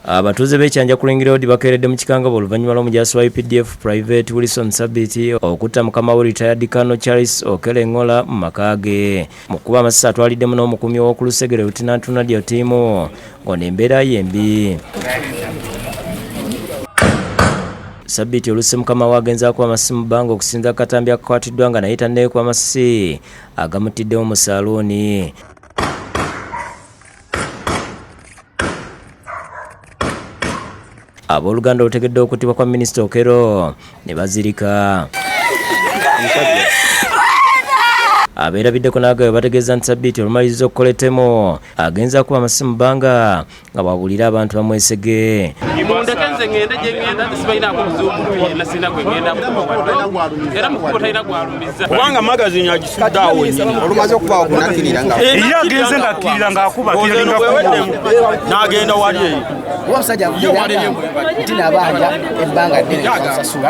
abatuuze b'ekyanja ku ring road bakeeredde mu kikangabwa oluvannyuma lw'omujaasi wa updf private wilson sabiti okutta mukama we retired kano charles okele ngola mu maka ge mu kuba amasasi atwaliddemu n'omukuumi w'oku lusegere lutinantu nadio tiimu ngono embeera ye mbi sabiti olusi mukama wagenza kuba amasisi mu bbanga okusinza akatambi akakwatiddwa nga naye tanneekuba amasisi agamuttiddewo mu saluuni Abooluganda olutegedde okuttibwa kwa minisita Okero ne bazirika abeerabiddeko n'agabwe bategeeza nti sabbiiti olumaliriza okukola ettemu agenza kuba amasimu bbanga nga bwabuulira abantu bamwesege mundeke nze ŋŋende gye ŋŋenda nti sibalinaako buzibu muntu yenna sirina gwe ŋŋenda kukuba era mu kkubo talina gwalumizza kubanga magazini olumaze okubaawo kunakkirira nga era agenze ngakkirira ng'akuba n'agenda wali eyo kuba musajja avumiranga nti nabanja ebbanga ddene nsasula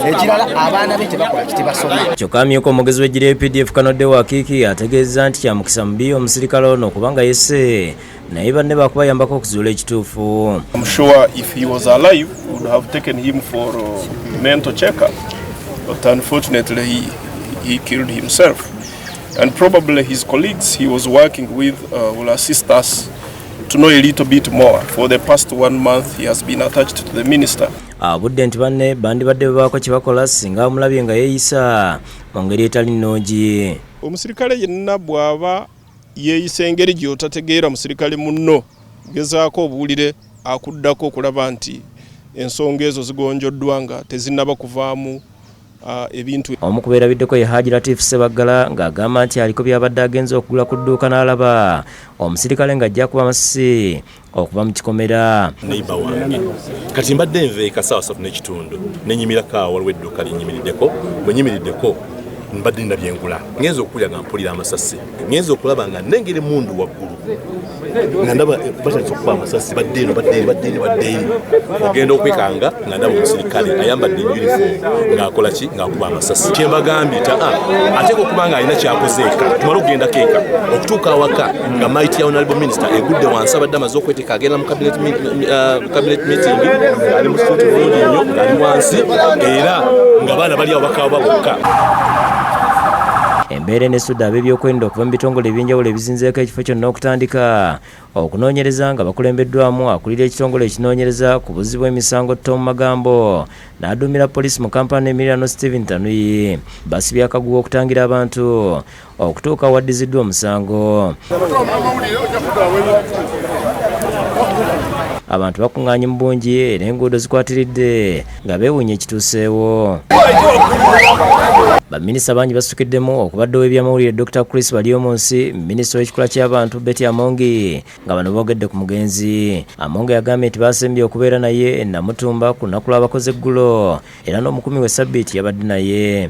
ekirala abaana be tebakola kitebasoma kyokka amyuka omugezi w'eggiri epdf kanodde wakiiki ategeezza nti kyamukisa mubi omusirikale ono kubanga yese naye banne bakubayambako okuzuula ekituufu and probably his colleagues he was working with uh, will assist us to know a little bit more for the past one month he has been attached to the minister abudde ah, nti banne bandibadde bebaako kye bakola singa amulabye nga yeeyisa mu ngeri etali nnungi omusirikale yenna bw'aba yeeyisa engeri gy'otategeera musirikale munno, gezaako obuwulire akuddako okulaba nti ensonga ezo zigonjoddwa nga tezinnaba kuvaamu Ah, ebintu omu ku beerabiddeko ye haji latif sebaggala ng'agamba nti aliko byabadde agenze okugula ku dduuka n'alaba omusirikale ng'ajja kuba amasisi okuva mu kikomera neiba wange kati mbadde nva ekasaawa satu n'ekitundu nenyimirako awo waliwo edduuka lyenyimiriddeko bwe nyimiriddeko mbadde nina byengula ngenza okukulya nga mpulira amasasi ngenza okulaba nga nengeri mundu waggulu nga ndaba batandisa okuba amasasi badde eno badde eri badde eri badde eri ogenda okwekanga nga ndaba omusirikale ayambadde uniform ng'akola ki ng'akuba amasasi kyembagambye ta ah, ateeka okuba nga alina kyakoze eka tumale okugendako eka okutuuka awaka nga might ya honorable minister egudde wansi abadde amaze okweteeka agenda mu cabinet uh, meeting ali mu situti bulungi nnyo ali wansi era nga baana bali awo bakaaba bokka embeera enesudde ab'ebyokwerinda okuva mu bitongole ebyenjawulo ebizinzeeko ekifo kyonna okutandika Okunoonyereza nga bakulembeddwamu akulira ekitongole ekinoonyereza ku buzzi bw'emisango Tom Magambo n'aduumira poliisi mu Kampala n'emiriraano Stephen Tanuyi basibye akaguwa okutangira abantu okutuuka awaddiziddwa omusango. Abantu bakung'anye mu bungi era enguudo zikwatiridde nga beewunya ekituuseewo baminisita bangi basukiddemu okubadde ow'ebyamawulire dr chris balyomunsi minisita w'ekikula ky'abantu betty amongi nga bano boogedde ku mugenzi amongi yagambye nti baasembye okubeera naye namutumba ku lunaku lw'abakoze eggulo era n'omukumi we sabbiiti yabadde naye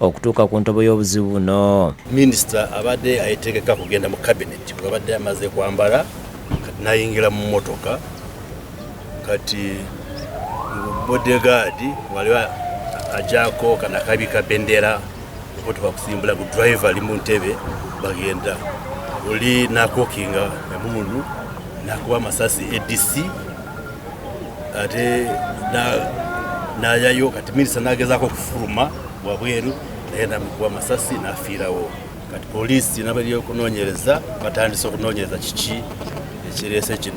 okutuuka ku ntobo y'obuzibu buno. Minisita abadde ayetegeka kugenda mu kabineti bwabadde amaze kwambala kati nayingira mu motoka kati bodegaadi waliwo ajako kanakabi kabendera motoka kusimbula ku drive ali mu ntebe bagenda oli nakokinga emundu nakuba amasasi adc ate nayayo kati minisita nagezaako okufuluma wabweru naye namikuba amasasi nafiirawo kati poliisi nabali okunoonyereza batandise okunoonyereza kiki ekireese kino